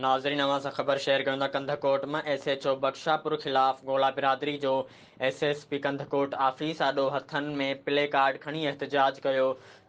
ناظرين اوهان سان خبر شيئر ڪريون ٿا ڪنڌڪوٽ مان ايس ايڇ او بخشاپور خلاف گولا برادري جو S S P Kandhkot office آڏو هٿن ۾ پلي ڪارڊ کڻي احتجاج ڪيو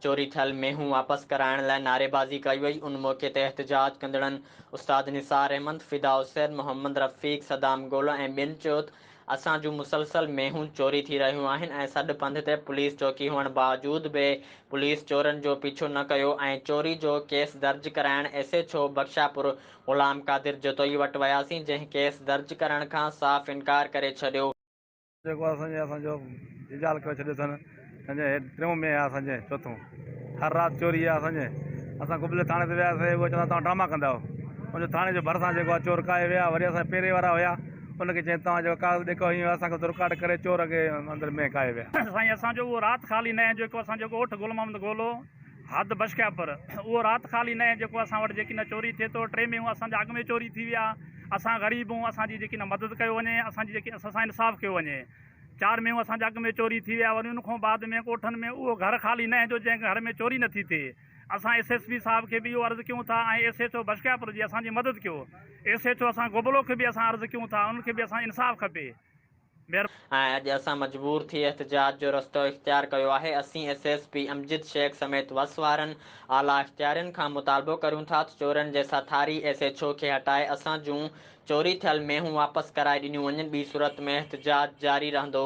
چوري ٿيل مينهون واپس ڪرائڻ لاء نعري بازي ڪئي وئي ان موقعي تي احتجاج ڪندڙن استاد نثار احمد فدا حسين محمد رفيق صدام گولا ۽ ٻين چيو ته اسان جون مسلسل مينهون چوري ٿي رهيون آهن ۽ سڏ پنڌ تي پوليس چوڪي هئڻ باوجود به پوليس چورن جو پيڇو نه ڪيو ۽ چوري جو ڪيس درج ڪرائڻ S H O Bakhshapur Ghulam Qadir Jatoi وٽ وياسين جنهن ڪيس درج ڪرڻ کان صاف انڪار ڪري ڇڏيو. جيڪو اسان جي اسان جو جيجال ڪري ڇڏيو اٿن. سنجي هيڊ ٽيون ۾ آ سنجي چوٿون هر رات چوري آ سنجي اسان قبلي ٿاڻي تي ويا سي اهي چوندا توهان ڊراما ڪندا آهو ان جو ٿاڻي جو ڀرسان جيڪو آ چور ڪاهي ويا وري اسان پيري وارا هيا ان کي چين توهان جيڪو ڪاغذ ڏيکو هيون اسان کي رڪارڊ ڪري چور کي اندر مين ڪاهي ويا. سائين اسان جو اهو رات خالي نه هي جيڪو اسان جو ڳوٺ گل محمد گولو حد بشڪياپور اهو رات خالي نه هي جيڪو اسان وٽ جيڪي نه چوري ٿي ٿو ٽي مينهون اسان جا اڳ ۾ چوري ٿي ويا اسان غريب هون اسان جي جيڪي نه مدد ڪيو وڃي اسان جي جيڪي اسان سان انصاف ڪيو وڃي. چار مينهون اسان جي اڳ ۾ چوري ٿي ويا وري ان کان بعد ۾ ڳوٺن ۾ اهو گهر خالي نه هجو جنهن گهر ۾ چوري نه ٿي ٿئي اسان ايس ايس پي صاحب کي به اهو عرض ڪيون ٿا ۽ ايس ايڇ او بشڪياپور جي اسان جي مدد ڪيو ايس ايڇ او اسان گبلو کي به اسان عرض ڪيون ٿا انهن کي به اسان انصاف کپي. ۽ اڄ اسان مجبور ٿي احتجاج جو رستو اختيار ڪيو آهي اسين S S P Amjad Shaikh سميت وس وارن اعليٰ اختيارين کان مطالبو ڪريون ٿا ته چورن جي ساٿاري ايس ايڇ او کي هٽائي اسان جون چوري ٿيل مينهون واپس ڪرائي ڏنيون وڃن ٻي صورت ۾ احتجاج جاري رهندو.